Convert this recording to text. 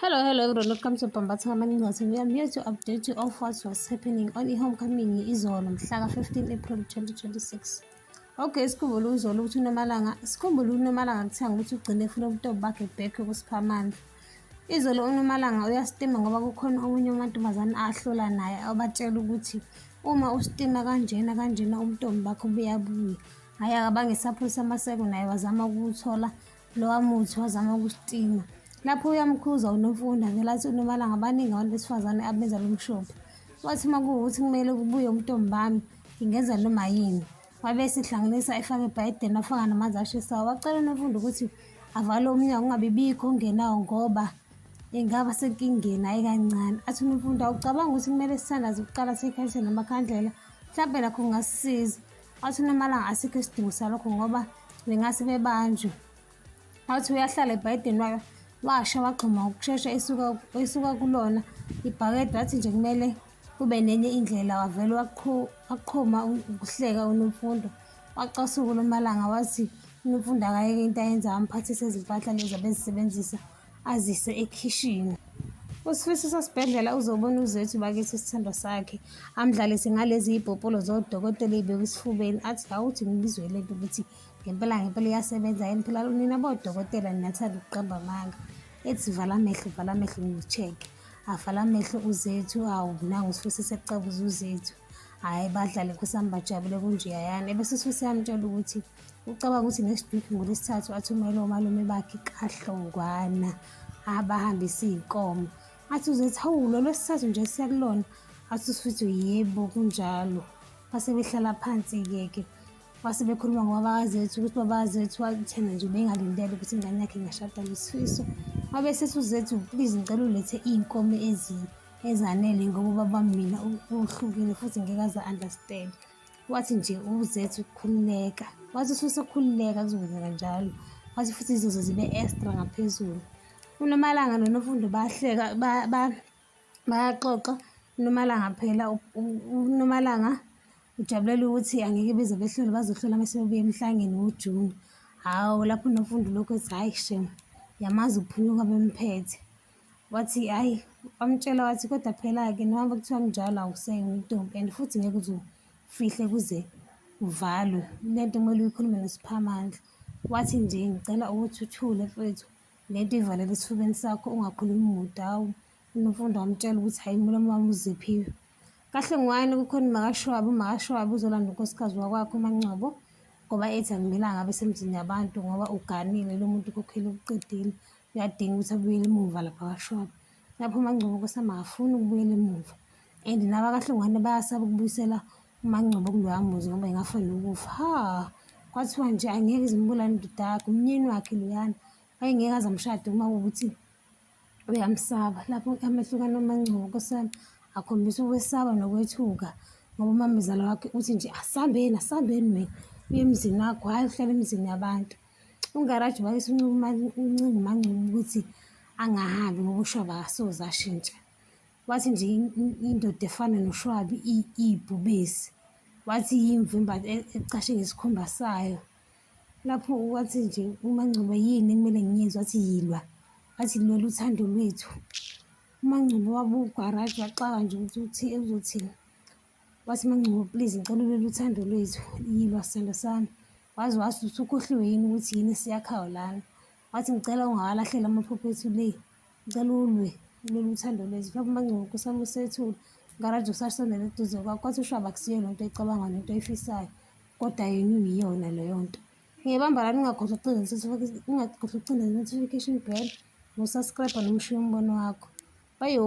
Hello, hello everyone. Welcome to Bambatha Kamaningos. We are here to update you of what was happening on i-homecoming izolo mhla ka-15 April 2026. Okay, sikhumbule uzolo ukuthi uNomalanga, sikhumbule uNomalanga kuthiwa ukuthi ugcine efuna ubutobo bakhe back kusiphamandla. Izolo uNomalanga uyasitima ngoba kukhona omunye umantombazane ahlola naye abatshela ukuthi uma usitima kanjena kanjena ubutobo bakho buyabuya. Hhayi akabange sapholisa amaseko naye wazama ukuthola lowa muthi wazama ukusitima lapho uyamkhuza unomfundi avele athi unomalanga abaningi abantu besifazane abenza lo mshophi wathi uma kuwukuthi kumele kubuye umntombi bami ngingenza noma yini wabe esihlanganisa efake ebhayideni afaka namanzi ashisayo wacela unomfundi ukuthi avale umnyango ungabibikho ongenawo ngoba engaba senkingeni ayi kancane athi unomfundi awucabanga ukuthi kumele sithandaze ukuqala sikhalise namakhandlela mhlawumbe nakho kungasisiza wathi unamalanga asikho isidingo salokho ngoba bengase bebanjwe wathi uyahlala ebhayideni wayo washa wagxuma ukushesha esuka kulona ibhakede wathi nje kumele kube nenye indlela wavele waqhuma ukuhleka unomfundo wacasuka ulomalanga wathi unomfundo akayeke into ayenza amphathise izimpahla lezi abezisebenzisa azise ekhishini usifiso sasibhedlela uzobona uzethu bakithi isithando sakhe amdlalise ngalezi ibhopolo zodokotela eyibeka esifubeni athi awuthi ngibizwe lento ukuthi ngempela ngempela iyasebenza yini phela nina bodokotela ninathanda ukuqamba amanga ethi vala amehlo vala amehlo ngicheke avala amehlo uzethu awu nangu usifiso sekucabuza uzethu hhayi badlale nkosi yami bajabule kunjeyayana ebese usifiso yamtshela ukuthi Ucabanga ukuthi next week ngolesithathu athumele omalume bakhe kahlongwana abahambise iy'nkomo athi uzethi hawu lolo sithathu nje siyakulona athi usifithi yebo kunjalo base behlala phansi-ke ke base bekhuluma ngobabazethu ukuthi babazethu wathena nje bengalindele ukuthi ingane yakhe ingashada ngesifiso wabe sethi uzethu please ngicela ulethe iy'nkomo ezanele ngoba ubaba mina uhlukile futhi ngeke aze understand wathi nje uzethu ukukhululeka wathi ususe ukukhululeka kuzokwenzeka njalo wathi futhi izoze zibe extra ngaphezulu unomalanga nonofundo bahleka bayaxoxa unomalanga phela unomalanga ujabulela ukuthi angeke beze behlole bazohlola uma sebebuye emhlangeni wojuni hawu lapho unofundo lokhu ethi hhayi shem yamazi ukuphunyuka bemphethe Wathi hhayi, wamtshela wathi kodwa phela-ke noma kuthiwa kunjalo awusenye intombi and futhi ngeke uze ufihle kuze uvalwe. Le nto kumele uyikhulume noSiphamandla. Wathi nje ngicela ukuthi uthule mfethu le nto ivalele esifubeni sakho ungakhulumi muntu hawu. UNomfundo wamtshela ukuthi hhayi umlomo wami uziphiwe. Kahle ngwani kukhona umakashwabi, umakashwabi uzolanda unkosikazi wakwakho uMangcobo ngoba ethi akumelanga abe semzini yabantu ngoba uganile lo muntu ukhokhile ukuqedile. uyadinga ukuthi abuyele emuva lapha kashop lapho umangcobo kwesama akafuni ukubuyela emuva and naba kahlongwane bayasaba ukubuyisela umangcobo kuloya muzi ngoba ingafa nokufa ha kwathiwa nje angeke izimbulane ndodakhe umnyeni wakhe loyana wayengeke aze amshade uma ukuthi uyamsaba lapho amehlukana omangcobo kwesama akhombisa ukwesaba nokwethuka ngoba umamezala wakhe uthi nje asambeni asambeni wena uye emzini wakho hhayi uhlala emzini yabantu Ungaraji wayesunquma uNcingumangcobo ukuthi angahambi ngoba ushwabi akasoze ashintsha wathi nje indoda efana noshwabi iyibhubesi wathi yimvu imbathi e, ecashe ngesikhumba sayo lapho wathi nje umangcobo yini ekumele ngiyenzwe wathi yilwa wathi lwela uthando lwethu umangcobo wabugaraji waxaka nje ukuthi uthi uzothini wathi mangcobo please ngicela ulwela uthando lwethu yilwa sithando sami Waze wathi usukhohliwe yini ukuthi yini esiyakhayo lana. Wathi ngicela ungawalahleli amaphupho ethu le. Ngicela ulwe ulwela uthando lwethu. Mhlawumbe uMaNgcobo kusama usethule. Ngaraji usasondela eduze kwakho wathi ushwaba kusiyo le nto ecabanga nento oyifisayo. Kodwa yena uyiyona leyo nto. Ngiyabamba lana ungakhohlwa ukucinda notification- ungakhohlwa ukucinda notification bell nosubscribe nomushiya umbono wakho. Bayo.